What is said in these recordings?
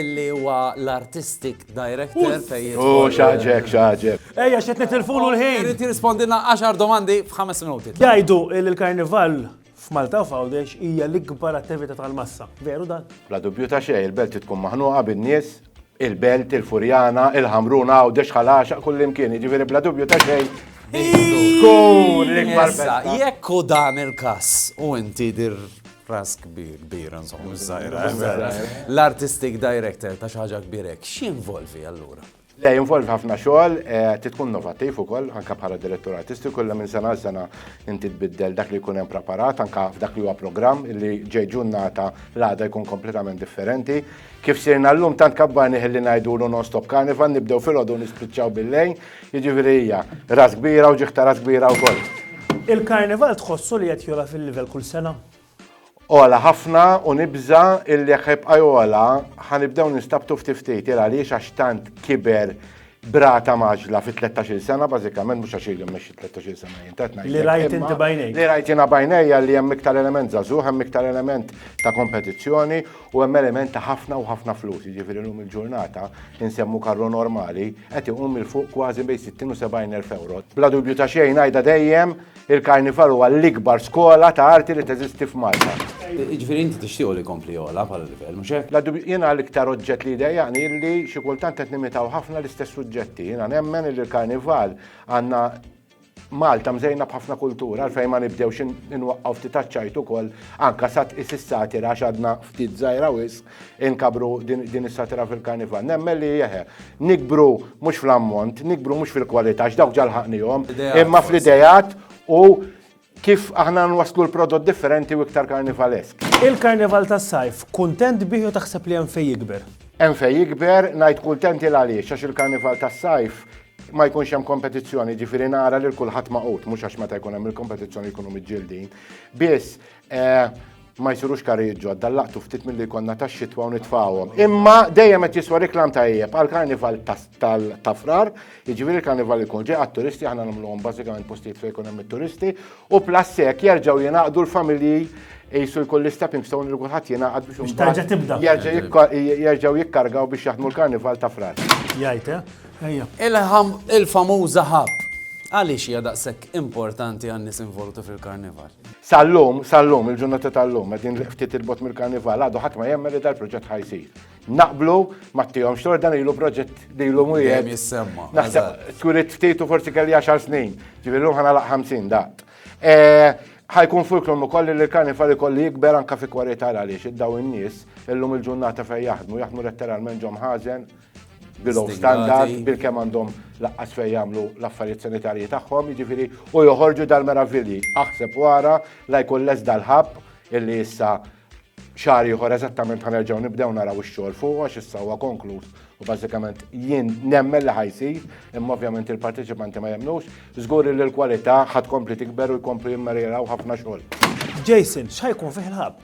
illi huwa l-artistic director fejn. U xaġek, xaġek. Ejja, xet nitilfulu l-ħin. Irrid jirrispondina 10 domandi f'ħames minuti. Jgħidu il-karnival f'Malta u f'Għawdex hija l-ikbar attività tal-massa. Veru dan? Bla dubju ta' xejn, il-belt tkun maħnuqa bin-nies, il-belt, il-furjana, il-ħamruna, Għawdex ħalaxa kullimkien, jiġifieri bla dubju ta' xejn. Tkun l-ikbar. Jekk hu dan il-każ u inti dir Ras kbir, kbir, nżom, mżajra. L-artistic director ta' xaġa kbirek, x'involvi allura? Le, jinvolvi ħafna xogħol, eh, titkun novattiv ukoll, anka bħala direttur artistiku, li minn sena sena inti tbiddel dak li jkun hemm preparat, anka f'dak li huwa programm li ġej ġurnata l-għada jkun kompletament differenti. Kif sirna llum tant kabbarni ħilli ngħidulu non-stop carnival, nibdew fil-ħodu nispiċċaw bil-lejn, Jiġifieri hija ras kbira u ġieħ ta' ras kbira wkoll. Il-Karnival tħossu li qed jogħla fil-livell kull sena? Ogħla ħafna u nibża' illi jekk ħajbqa' jogħla ħanibdew nistabtu ftit ftit il għaliex għax tant kiber brata maġla fi 13 sena, bażikament mhux għax ili mmexxi 13 sena jien qed ngħid. Li rajt inti bajnejk. Li rajt jiena bajnejja li hemm iktar element żagħżugħ, hemm iktar element ta' kompetizzjoni U hemm element ta' ħafna u ħafna flus, jiġifieri llum il-ġurnata insemmu karru normali qed iqum mil fuq kważi bejn 60 u 70 elf euro. Bla dubju ta' xejn ngħidha dejjem, il-Karnival huwa l-ikbar skola ta' arti li teżisti f'Malta. Jiġifieri inti tixtiequ li jkompli jogħla bħala livell, mhux hekk? Bla dubju, jiena l-iktar oġġett li jdejjaqni hi li xi kultant qed nimitaw ħafna l-istess suġġetti. Jiena nemmen li l-Karnival għandna Malta mżejna b'ħafna kultura għalfejn ma nibdewx inwaqqgħu ftit aċċajt ukoll anka sa tqis is-satira għax għadna ftit żgħira wisq inkabru din is-satira fil-karnival. Nemmen li jeħe, nikbru mhux fl-ammont, nikbru mhux fil-kwalità għax dawk ġalħaqnihom, imma fl-idejat u Kif aħna nwasslu l-prodott differenti u iktar karnivalesk. Il-Karnival tas-Sajf, kuntent bih jew taħseb li hemm fejn jikber? Hemm fejn jikber, ngħid kuntent il għaliex għax il-Karnival tas-Sajf ma jkunx hemm kompetizzjoni, jiġifieri nara lil kulħadd magħqud, mhux għax meta jkun hemm il-kompetizzjoni jkunu miġġieldin. Biss, Ma jsirux karijiet ġodda, laqtu ftit milli jkollna tax-xitwa u nitfawhom. Imma dejjem qed jiswa riklam tajjeb għal karnival tal-tafrar, jiġifieri karnival ikun ġej għat-turisti aħna nagħmluhom bażikament postijiet fejn ikun hemm it-turisti u plus hekk jerġgħu jingħaqdu l-familji jisu jkun l-stepping stone li kulħadd jingħaqad biex tarġa' tibda. Jerġgħu jikkargaw biex jaħdmu l-karnival ta' frar. Jgħid, eh? ejja. Il-famuża ħab. Għaliex hija daqshekk importanti għan-nies involuti fil-karnival? Sal-lum, sal-lum, il-ġurnata tal-lum, għedin ftit il-bot mill-karnival, għadu ħadd ma jemmen li dal-proġett ħajsir. Naqblu, ma t-tijom xtor dan ilu proġett li ilu mwijet. Jem jissemma. Naħseb, twilit ftit u forsi kelli 10 snin, ġivillu ħana laq 50 daqt. Eh, ħajkun fulkrum u kolli li l-karnival ikolli jikber anka fi kwalità għaliex id-daw in-nies illum il-ġurnata fej jaħdmu, jaħdmu letteralment ġom ħazen, below standard bil-kemm għandhom laqqas fejn jagħmlu l-affarijiet sanitarji tagħhom, jiġifieri u joħorġu dal-meravilji. Aħseb wara la jkun les dal-ħabb illi issa xahar ieħor eżattament ħanerġgħu nibdew naraw ix-xogħol fuq għax issa huwa konkluż u bażikament jien nemmen li ħajsir, imma ovvjament il-parteċipanti ma jemnux, żgur li l-kwalità ħad kompli tikber u jkomplu jimmerjeraw ħafna xogħol. Jason, x'ħajkun fih il-ħabb?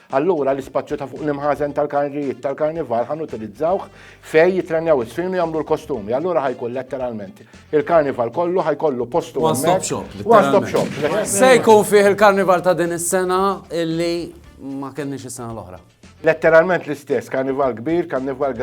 Allura l-ispazju ta' fuq l-imħażen tal-karnijiet tal-karnival ħan utilizzawh fej jitrennjaw is-swin u jagħmlu l-kostumi. Allura ħajkun letteralment il-karnival kollu ħajkollu postu One stop shop. One stop shop. Se jkun fih il-karnival ta' din is-sena illi ma kenniex is-sena l-oħra. Letteralment l-istess, karnival kbir, karnival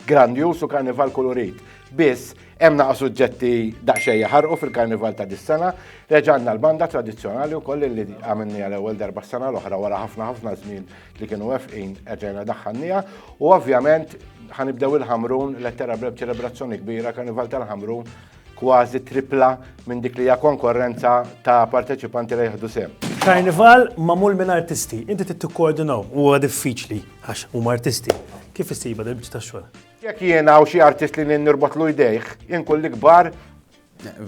Grandjuż u karnival kulurit. Biss, hemm naqa' suġġetti daqsxejn jaħarqu fil-karnival ta' dis-sena, reġa' għandna l-banda tradizzjonali wkoll li għamilniha l-ewwel darba s-sena l-oħra wara ħafna ħafna żmien li kienu wefqin erġajna daħħalniha u ovvjament ħanibdew il-Ħamrun lettera b'reb ċelebrazzjoni kbira karnival tal-Ħamrun kważi tripla minn dik li hija konkorrenza ta' parteċipanti li jieħdu sehem. Karnival magħmul minn artisti, inti trid tikkoordinahom, huwa diffiċli. Għax huma artisti. Kif issiba dil-biċċa tax-xogħol? Jekk jien hawn xi artist li nirbotlu jdejh, inkun l-ikbar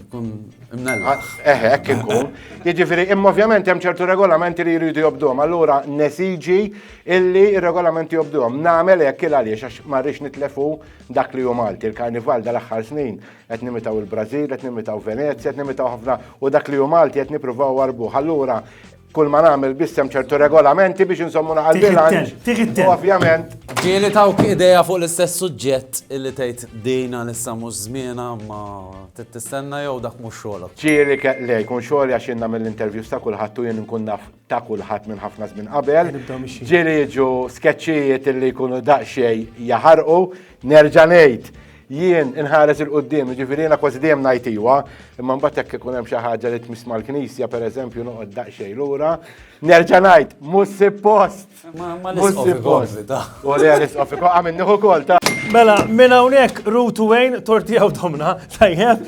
Kun imnella. Eħe, hekk inkun. Jiġifieri, imma ovvjament hemm ċertu regolamenti li jridu jobdhom. Allura nesiġi illi r-regolamenti jobdhom. Nagħmel hekk il għaliex għax ma rridx nitlefu dak li hu Malti. Il-Karnival dal-aħħar snin qed nimitaw il-Brażil, qed nimitaw Venezja, qed nimitaw ħafna u dak li hu Malti qed nippruvaw warbuh. Allura Kull ma nagħmel biss hemm ċertu regolamenti biex insommu naħal bilanċ. U ovvjament. Ġieli tawk ideja fuq l-istess suġġett illi tgħid dina issa mhux żmiena ma tistenna jew dak mhux xogħolok. Ġieli le jkun xogħol għax inna mill-interviews ta' kulħadd u jien nkun naf ta' kulħadd minn ħafna żmien qabel. Ġieli jiġu skeċċijiet illi jkunu daqsxejn jaħarqu nerġa' ngħid Jien inħares il-qoddim, jiġifieri jiena kważi dejjem ngħid iwa, imma mbagħad jekk ikun hemm xi ħaġa li tmiss mal-Knisja pereżempju noqgħod daqsxejn lura, nerġa' ngħid mhux suppost. Mhux suppost. U li għal isqof ikun għamil nieħu kol ta'. Mela, minn hawnhekk Ruth Wayne torti għaw domna, tajjeb.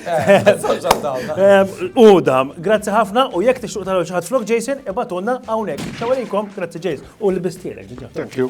U dam, grazzi ħafna u jekk tixtuq taraw xi ħadd flok Jason, ibatulna hawnhekk. Xawalikom, grazzi Jason. U l-bistielek. Thank you.